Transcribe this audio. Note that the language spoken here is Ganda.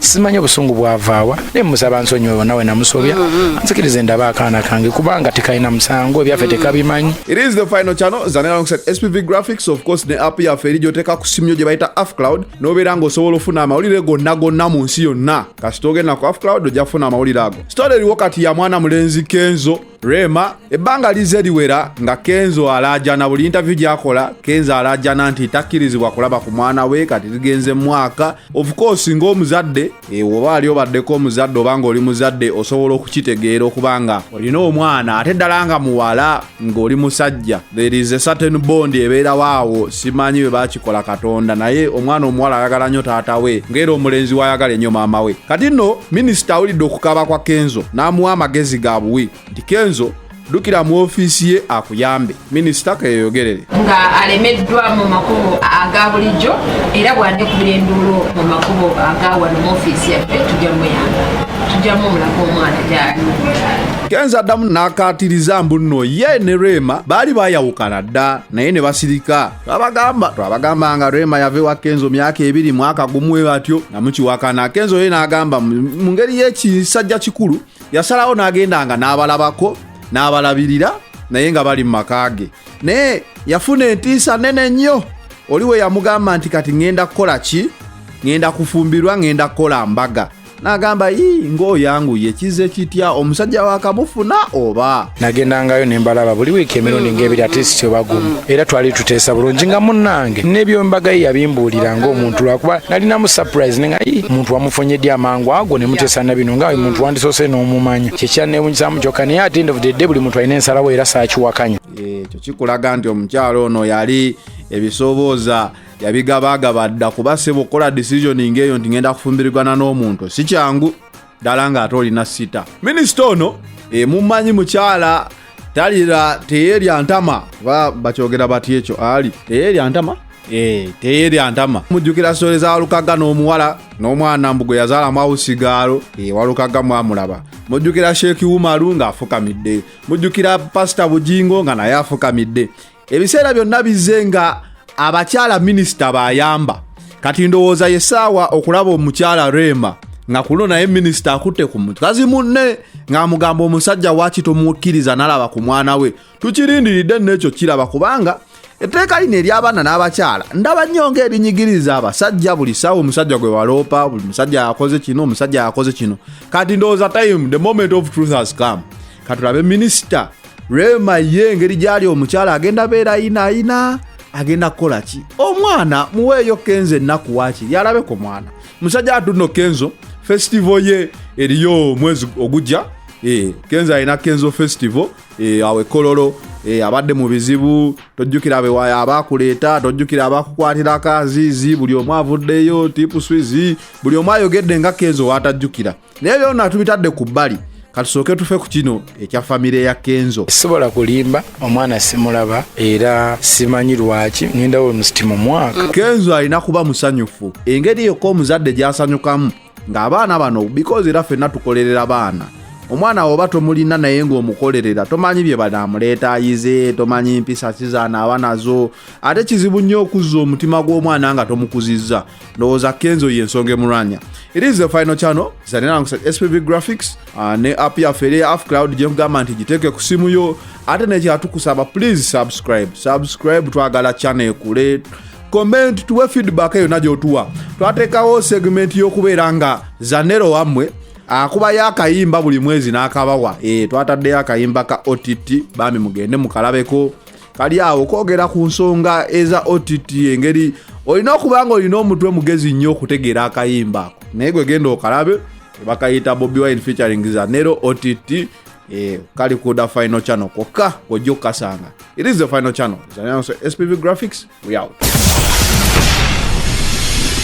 simanyi obusungu bwavaawa naye musaba nsonyiwe nawe namusobya mm-hmm. nzikirize ndaba akaana kange kubanga tekalina musango ebyaffe mm-hmm. tekabimanyi it is the final channel zanera alongside spv graphics of course ne app yaffe eri gyoteka ku simu yo gye bayita afcloud n'obeera ng'osobola ofuna amawulire gonna gonna mu nsi yonna kasita ogenda ku afcloud ojja kufuna amawulire ago sitole eriwo kati ya mwana mulenzi kenzo Rema ebbanga lizze liwera nga Kenzo alaajana buli interview gyakola Kenzo alaajana nti takkirizibwa kulaba ku mwana we kati ligenze mwaka of course ng'omuzadde eh, oba ali obaddeko omuzadde oba ng'oli muzadde osobola okukitegeera okuba nga olina omwana ate ddala nga muwala ng'oli musajja there is a certain bond ebeerawo awo simanyi bwe bakikola katonda naye omwana omuwala ayagala nnyo taata we ngaera omulenzi wayagala ennyo maama we kati nno minisita awulidde okukaaba kwa kenzo n'amuwa amagezi ga buwi nti kenzo dukira mu ofiisi ye akuyambe minisita keyogerere nga alemeddwa mu makubo aga bulijjo era bwandikubira enduulu mu makubo aga wano mu ofiisi yaffe tujja muyamba tujjamu omulaga omwana gyali kenza addamu n'akaatiriza mbu nno ye ne rema baali baayawukana dda naye ne basirika twabagamba twabagamba nga rema yava ewa kenzo myaka ebiri mwaka gumu we batyo nga mukiwakana kenzo ye n'agamba mu ngeri y'ekisajja kikulu yasalawo n'agendanga n'abalabako n'abalabirira naye nga bali mu maka ge naye yafuna entiisa nene nnyo oli we yamugamba nti kati ŋŋenda kukola ki ŋŋenda kufumbirwa ŋŋenda kukola mbaga nagamba yii ng'oyanguye kize kitya omusajja wakamufuna oba nagendangayo nembalaba buli wiiki emirundi ngaebiri atisiti obagumu era twali tuteesa bulungi nga munnange nebyombaga ye yabimbuulira ngaomuntu lwakuba nalinamu surprise nenga yi muntu wamufunyedde amangu ago nemuteesa na bino nga muntu wandisoose n'omumanya kyekyanewunyisamu kyokka naye ate ndovudedde buli muntu alina ensalawo era saakiwakanya ekyo kikulaga nti omukyalo ono yali ebisobooza e yabigabagaba dda kuba sebo okukola decisioning eyo nti ngenda kufumbirigana n'omuntu si kyangu ddala ng'ate olina sita minisita ono emumanyi mukyala talira teyerya ntama ba bakyogera bati ekyo ali teyerya ntama eh, teyerya ntama mujjukira sitole za walukaga n'omuwala n'omwana mbu gwe yazaalamu awusigaalo eh, walukaga mwamulaba mujjukira sheeki wumalu ng'afukamidde mujjukira pasita bujingo nga naye afukamidde ebiseera byonna bizze nga abakyala minisita bayamba kati ndowooza yesaawa okulaba omukyala reema nga kuno naye minisita akutte ku mukazi munne ng'amugamba omusajja waaki tomukkiriza nalaba ku mwana we tukirindiridde n'ekyo kiraba kubanga etteeka lino ery'abaana n'abakyala ndaba nnyo ng'erinyigiriza abasajja buli saawa omusajja gwe waloopa buli musajja yakoze kino omusajja yakoze kino kati ndowooza time the moment of truth has come katulabe minisita rema ye engeri gyali omukyala agenda beera ayina ayina agenda kukola ki omwana muweeyo kenzo ennaku waakiri alabe ku mwana musajja atuno kenzo festival ye eriyo omwezi ogujja eh, kenzo alina kenzo festival eh, awe kololo eh, abadde mu bizibu tojjukira abakuleeta tojjukira abakukwatirako aziizi buli omu avuddeyo tipuswizi buli omu ayogedde nga kenzo waatajjukira naye byona tubitadde ku bbali katusooke tufe ku kino ekya famire ya kenzo sisobola kulimba omwana simulaba era simanyi lwaki ngenda we musiti mu mwaka kenzo alina kuba musanyufu engeri yokka omuzadde gyasanyukamu ng'abaana bano bikozi era fenna tukolerera baana omwana woba tomulina naye ng'omukolerera tomanyi bye banaamuleeta ayize tomanyi mpisa ki zanaaba nazo ate kizibu nnyo okuzza omutima gw'omwana nga tomukuzizza ndowooza kenzo ye ensonga emulwanya it is the final channel zanerangusa spv graphics uh, ne app yaffe eri af cloud gyekugamba nti giteeke ku simu yo ate nekyatukusaba please subscribe subscribe twagala channel ekule comment tuwe feedback yona gyotuwa twateekawo segment y'okubeera nga zanero wammwe akubayo akayimba buli mwezi n'akabawa e, twataddeyo akayimba ka ott bambi mugende mukalabeko kali awo kwogera ku nsonga eza ott engeri olina okuba nga olina omutwe mugezi nnyo okutegeera akayimba ako naye gwe genda okalabe bakayita bobi wine featuring zanero ott eh, kali kuda final channel kokka kwojja okukasanga it is the final channel spv graphics we out